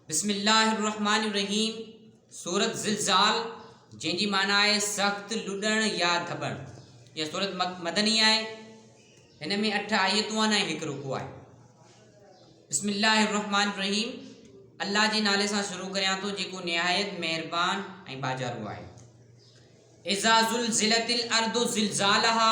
بسم الله الرحمٰن الرحيم سورة زلزال جنهن جي معنيٰ آهي سخت لڏڻ يا ڌٻڻ اها سورت مدني آهي هن ۾ اٺ آيتون آهن ۽ هڪ رڪو آهي بسم الله الرحمن الرحيم الله جي نالي سان شروع ڪريان ٿو جيڪو نهايت مهربان ۽ باجارو آهي اذا زلزلت الارض زلزالها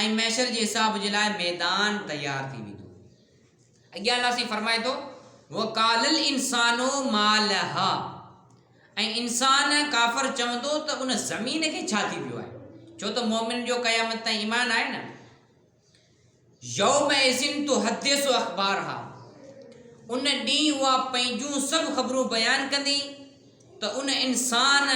۽ محشر جي حساب جي لاء ميدان تيار ٿي ويندو. اڳيان الله سائين فرمائي ٿو، وقال الانسان ما لها ۽ انسان، ڪافر، چوندو ته ان، زمين، کي ڇا ٿي ويو آهي؟ ڇو ته مؤمنن جو قيامت تائين ايمان آهي نه. يومئذ تحدث اخبارها ان ڏينهن اها پنهنجون سڀ خبرون بيان ڪندي ته ان، انسان،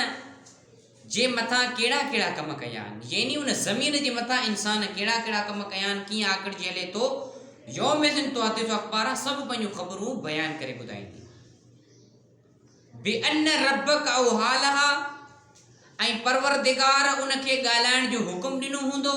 جي مٿان ڪهڙا ڪهڙا ڪم ڪيا آهن، يعني ان زمين جي مٿان انسان ڪهڙا ڪهڙا ڪم ڪيا آهن، ڪيئن آڪڙجي هلي ٿو، يومئذن تحدث اخبار سڀ پنهنجون خبرون بيان ڪري ٻڌائيندي. بان ربک اوحا لها ۽ پروردگار ان کي ڳالهائڻ جو حڪم ڏنو هوندو.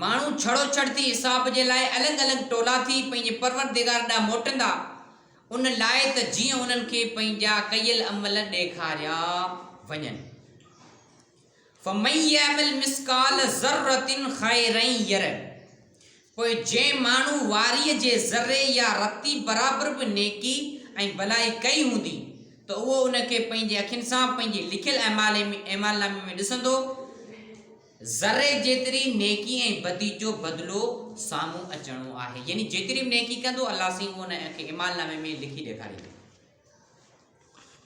ماڻهو ڇڙو ڇڙ ٿي حساب جي لاء الڳ الڳ ٽولا ٿي پنهنجي پروردگار ڏانهن موٽندا، ان لاء ته جيئن انهن کي پنهنجا ڪيل عمل ڏيکاريا وڃن. فمن يعمل مثقال ذرة خيرا يره پوء جنهن ماڻهو واريء جي ذري يا رتي برابر به نيڪي ۽ ڀلائي ڪئي هوندي ته اهو ان کي پنهنجي اکين سان پنهنجي لکيل اعمال نامي ۾ ڏسندو، ذري جيتري نيڪي ۽ بدي جو بدلو سامهون اچڻو آهي يعني جيتري به نيڪي کندو الله سائين ان کي اعمال نامي ۾ لکي ڏيکاريندو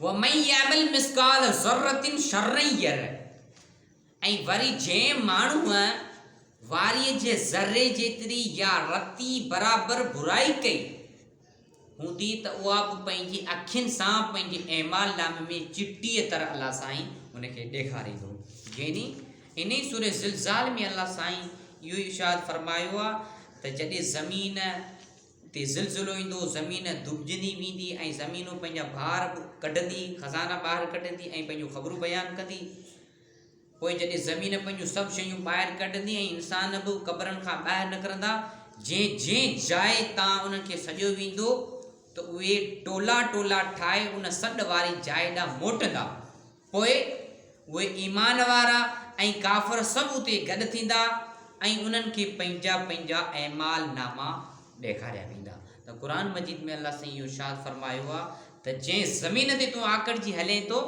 ومن يعمل مثقال ذره شرا يره ۽ وري جنهن ماڻهو واري جي ذري جيتري يا رتي برابر برائي ڪئي هوندي ته اها به پنهنجي اکين سان پنهنجي اعمال نامي ۾ چٽيء طرح الله سائين ان کي ڏيکاريندو يعني انهي سورة زلزال ۾ الله سائين اهو ارشاد فرمايو آهي ته جڏهن زمين تي زلزلو ايندو زمين دٻجندي ويندي ۽ زمينون پنهنجا بار ڪڍندي خزانا ٻاهر ڪڍندي ۽ پنهنجون خبرون بيان ڪندي پوء جڏهن زمين پنهنجون سڀ شيون ٻاهر ڪڍندي ۽ انسان به قبرن کان ٻاهر نڪرندا، جنهن جنهن جاء تان انهن کي سڏيو ويندو ته اهي ٽولا ٽولا ٺاهي ان سڏ واري جاء ڏانهن موٽندا. پوء اهي ايمان وارا ۽ ڪافر سڀ اتي گڏ ٿيندا ۽ انهن کي پنهنجا پنهنجا اعمال ناما ڏيکاريا ويندا. ته قرآن مجيد ۾ الله سائين اهو ارشاد فرمايو آهي ته جنهن زمين تي تون آڪڙجي هلين ٿو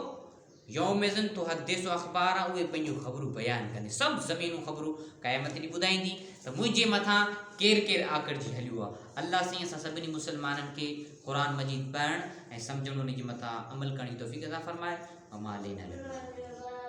يومئذ تحدث اخبارها اهي پنهنجون خبرون بيان ڪندي سڀ زمينون خبرون قيامت ڏينهن ٻڌائيندي ته منهنجي مٿان ڪير ڪير آڪڙجي هليو آهي الله سائين اسان سڀني مسلمانن کي قرآن مجيد پڙهڻ ۽ سمجهڻ انهي جي مٿان عمل ڪرڻ جي توفيق عطا فرمائي وما علينا الا البلاغ.